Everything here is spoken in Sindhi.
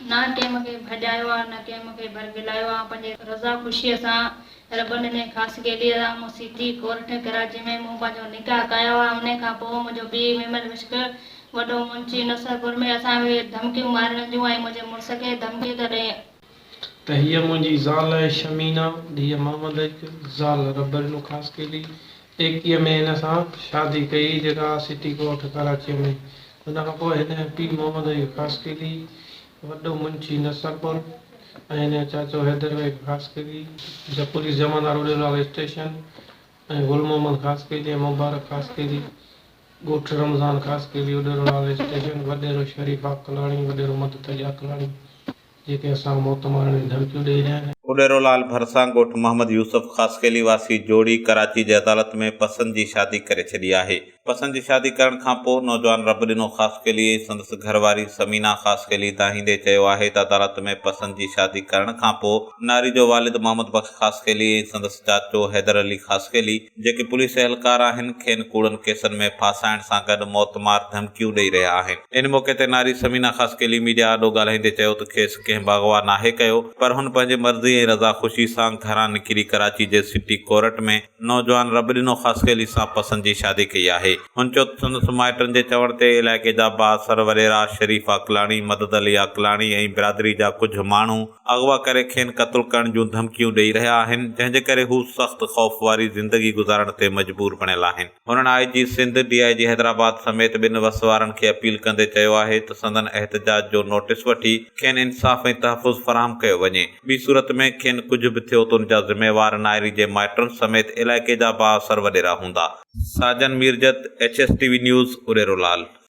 نه ڪنهن مون کي ڀڄايو آ، نه ڪنهن مون کي برغلايو آ، آئون پنهنجي رضا خوشيء سان رب ڏني خاص گيليء سان مون سيڪري ڪورٽ ڪراچيء ۾ مون پنهنجو نڪاح ڪايو آ، انهيء کان پوء منهنجو پيء ميمڻ وشڪ وڏو منشي نصرپور ۾ اسان کي ڌمڪيون مارڻ جون ۽ منهنجي مڙس کي ڌمڪي ته ڏئي، ته هيء منهنجي زال آهي شمينه، ڌيء محمد ايڪ، زال ربرينو خاصخيلي ايڪيء ۾ هن سان شادي ڪئي، جيڪا آهي سٽي ڳوٺ ڪراچيء ۾. ان کان پوء هن جو پيء محمد ايڪ خاصخيلي، وڏو منشي نصرپور ۽ هن جو چاچو حيدر ايڪ خاصخيلي، جو پوليس جمعدار هو ڏيلواڙو اسٽيشن ۽ گل محمد خاصخيلي ۽ مبارڪ خاصخيلي، ڳوٺ رمضان خاصخيلي هو ڏيلواڙو اسٽيشن، وڏيرو شريف عاقلاڻي، وڏيرو مدد علي عاقلاڻي. جيڪي اسان کي موت مارڻ جون ڌمڪيون ڏئي رهيا آهن. اڏيرو لال ڀرسان ڳوٺ محمد يوسف خاصخيلي واسي جوڙي ڪراچي جي عدالت ۾ پسند جي شادي ڪري ڇڏي آهي. پسند جي شادي ڪرڻ کان پوء نوجوان رب ڏنو خاصخيلي ۽ سندس گهر واري ثمينه خاصخيلي دانهيندي چيو آهي ته عدالت ۾ پسند جي شادي ڪرڻ کان پوء ناري جو والد محمد بخش خاصخيلي ۽ سندس چاچو حيدر علي خاصخيلي جيڪي پوليس اهلڪار آهن کين ڪوڙن ڪيسن ۾ ڦاسائڻ سان گڏ موت مار ڌمڪيون ڏئي رهيا آهن ان موقعي تي ناري ثمينه خاصخيلي ميڊيا آڏو ڳالهائيندي چيو ته کيس ڪنهن به اغوا ناهي ڪيو پر هن پنهنجي مرضي ۽ رضا خوشي سان گهران نڪري ڪراچي جي سٽي ڪورٽ ۾ نوجوان رب ڏنو خاصخيلي سان پسند جي شادي ڪئي آهي هن چيو ته سندس مائٽن جي چوڻ تي علائقي جا بااثر وڏيرا شريف عقلاڻي مدد علي عقلاڻي ۽ برادري جا ڪجهه ماڻهو اغوا ڪري کين قتل ڪرڻ جون ڌمڪيون ڏئي رهيا آهن جنهن جي ڪري هو سخت خوف واري زندگي گذارڻ تي مجبور بڻيل آهن هنن آء جي سنڌ ڊي آء جي حيدرآباد سميت ٻن وس وارن کي اپيل ڪندي چيو آهي ته سندن احتجاج جو نوٽيس وٺي کين انصاف ۽ تحفظ فراهم ڪيو وڃي ٻي صورت ۾ کين ڪجهه به ٿيو ته ان جا ذميوار نائري جي مائٽن سميت علائقي جا بااثر وڏيرا هوندا. Sajan Mirjat, H S T V news, Udero لال.